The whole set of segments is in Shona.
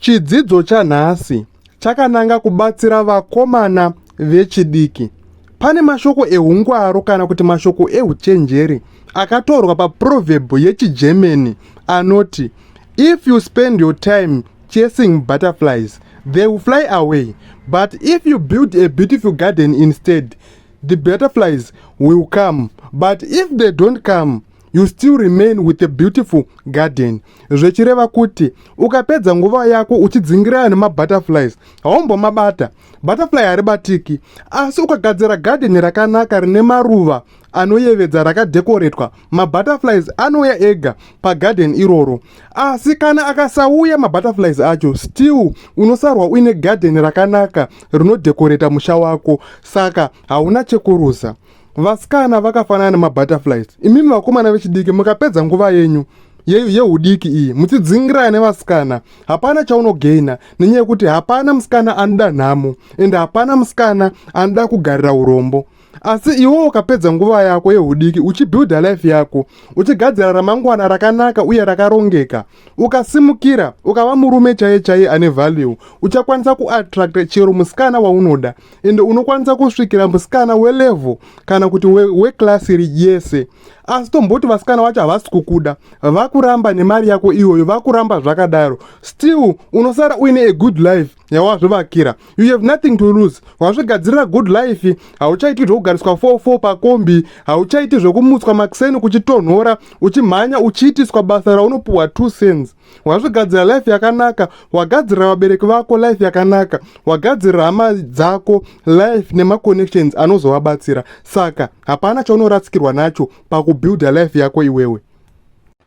Chidzidzo chanhasi chakananga kubatsira vakomana vechidiki. Pane mashoko ehungwaru kana kuti mashoko ehuchenjeri akatorwa paproverb yechiGermany anoti if you spend your time chasing butterflies they will fly away but if you build a beautiful garden instead the butterflies will come but if they don't come you still remain with a beautiful garden zvechireva kuti ukapedza nguva yako uchidzingirana nemabutterflies haumbomabata butterfly haribatiki asi ukagadzira gadheni rakanaka rine maruva anoyevedza rakadhekoretwa mabutterflies anouya ega pagadheni iroro asi kana akasauya mabutterflies acho still unosarwa uine gadheni rakanaka rinodhekoreta musha wako saka hauna chekuruza vasikana vakafanana nemabutterflies imimi vakomana vechidiki mukapedza nguva yenyu yeudiki iyi muchidzingirana nevasikana hapana chaunogaina nenyaya yekuti hapana musikana anoda nhamo ende hapana musikana anoda kugarira urombo asi iwo ukapedza nguva yako yeudiki uchibuilda life yako uchigadzira ramangwana rakanaka uye rakarongeka ukasimukira ukava murume chaiye chaiye ane value uchakwanisa kuattracta chero musikana waunoda ende unokwanisa kusvikira musikana welevel kana kuti weclass we yese asi tomboti vasikana vacho havasi kukuda vakuramba nemari yako iyoyo vakuramba zvakadaro still unosara uine a good life yawazvivakira you have nothing to lose wazvigadzirira good life hauchaiti zvokugariswa 44 pakombi hauchaiti zvokumutswa makuseni kuchitonhora uchimhanya uchiitiswa basa raunopuhwa 2 cents wazvigadzira life yakanaka wagadzirira vabereki vako life yakanaka wagadzirira hama dzako life nemaconnections anozovabatsira saka hapana chaunorasikirwa nacho pakubuilda life yako iwewe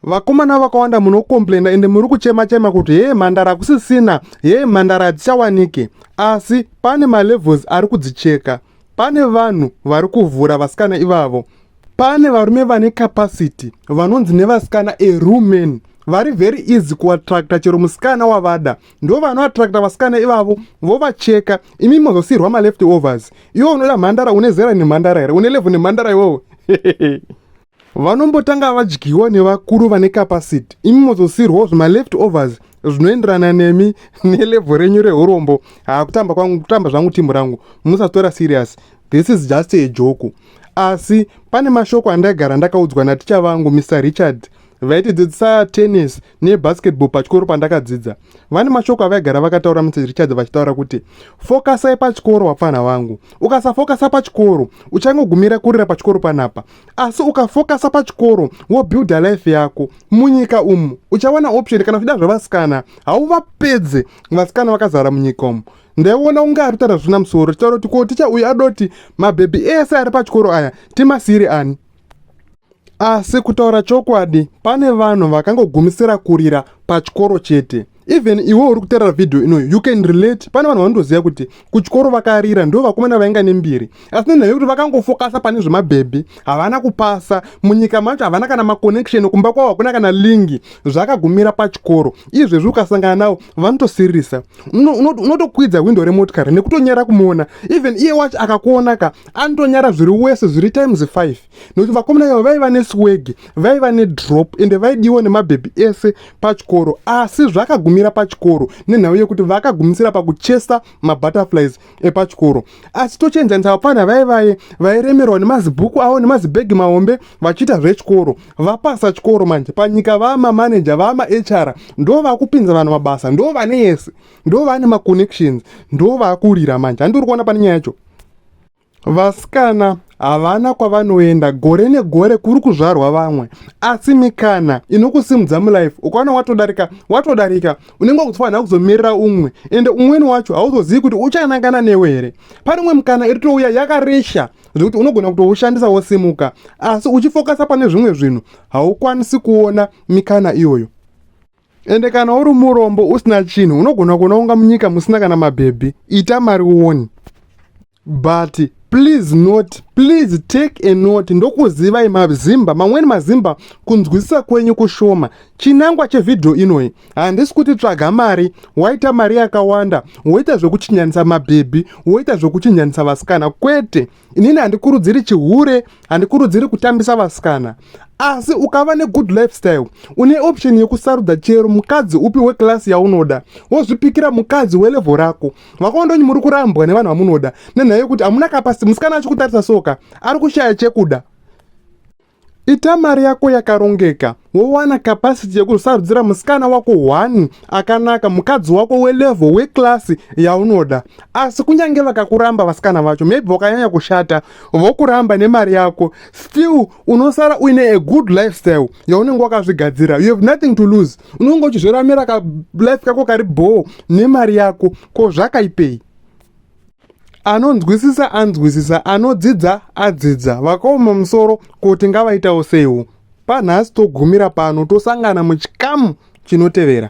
Vakomana vakawanda munocomplaina ende muri kuchema chema kuti hee mhandara kusisina, hee mhandara hadzichawanike. Asi pane malevels ari kudzicheka. Pane vanhu vari kuvhura vasikana ivavo. Pane varume vane capacity vanonzi nevasikana a rumen vari very easy kuattracta chero musikana wavada ndo vanoattracta vasikana ivavo vovacheka imi mozosiyirwa maleft overs iwo unoda mhandara une zera nemhandara here une levhu nemhandara iwowo vanombotanga vadyiwa nevakuru vane capacity imi mozosiirwawo zvima left overs zvinoenderana nemi nelevho renyu reurombo hakutamba kwangu kutamba zvangu timu rangu musatora serious this is just a joku asi pane mashoko andaigara ndakaudzwa naticha vangu mr richard vaitidzidzisa tennis nebasketball pachikoro pandakadzidza vane mashoko avaigara vakataura mrs richard vachitaura kuti fokasai pachikoro vapfanha vangu ukasafokasa pachikoro uchangogumira kurira pachikoro panapa asi ukafokasa pachikoro wobuilda life yako munyika umu uchawana option kana uchida zvevasikana hauvapedze vasikana vakazara munyika umu ndaiona unge ari kutaura zvina musoro tichitaura kuti ko ticha uyu adoti mabhebhi ese ari pachikoro aya timasiiri ani asi kutaura chokwadi pane vanhu vakangogumisira kurira pachikoro chete even iwe uri kuterera vhidhiyo inoyo you can relate pane vanhu vanotoziva kuti kuchikoro vakarira ndo vakomana vainga nembiri asi nenhaya yekuti vakangofokasa pane zvemabhebhi havana kupasa munyika macho havana kana maconnection kumba kwavo hakuna kana lingi zvakagumira pachikoro izvezvi ukasangana navo vanotosiririsa unotokwidza hwindo remotikari nekutonyara kumuona even iye wacho akakuonaka anotonyara zviri wese zviri times 5 nokuti vakomana yavo vaiva neswege vaiva nedrop ende vaidiwa nemabhebhi ese pachikoro asi zvakagumira pachikoro nenhau yekuti vakagumisira pakuchesa mabutterflies epachikoro asi tochienzanisa vapfana vaivaye vairemerwa nemazibhuku avo nemazibhegi mahombe vachiita zvechikoro vapasa chikoro manje panyika vamamaneja vamahr ndo vakupinza vanhu mabasa ndo vane yese ndo vane maconnections ndo vakurira manje handiuri kuona pane nyaya yacho Vasikana havana kwavanoenda gore negore kuri kuzvarwa vamwe asi mikana inokusimudza mulife ukaona watodarika watodarika unenge wakutofanira kuzomirira umwe ende umweni wacho hauzozivi kuti uchanangana newe here pane umwe mukana iri touya yakaresha zvekuti unogona kutoushandisa wosimuka asi uchifokasa pane zvimwe zvinhu haukwanisi kuona mikana iyoyo Ende kana uri murombo usina chinhu unogona kuona unga munyika musina kana mabhebhi ita mari uone but please not please take a note ndokuzivai mazimba mamweni mazimba kunzwisisa kwenyu kushoma chinangwa chevhidhiyo inoyi handisi kuti tsvaga mari waita mari yakawanda woita zvekuchinjanisa mabhebhi woita zvekuchinjanisa vasikana kwete inini handikurudziri chihure handikurudziri kutambisa vasikana asi ukava negood lifestyle une option yekusarudza chero mukadzi upi wekilasi yaunoda wozvipikira mukadzi welevho rako vakondonyi muri kurambwa nevanhu vamunoda nenhaya yekuti hamuna kapasiti musikana achikutarisa soka ari kushaya chekuda Ita mari yako yakarongeka wowana capacity yekusarudzira musikana wako one akanaka mukadzi wako welevel weclass yaunoda asi kunyange vakakuramba vasikana vacho maybe vakanyanya kushata vokuramba nemari yako still unosara uine a good lifestyle yaunenge wakazvigadzira you have nothing to lose unenge uchizviramira kalife kako kari bhoo nemari yako ko zvakaipei anonzwisisa anzwisisa anodzidza adzidza vakaoma musoro kuti ngavaitawo seiwo panhasi togumira pano tosangana muchikamu chinotevera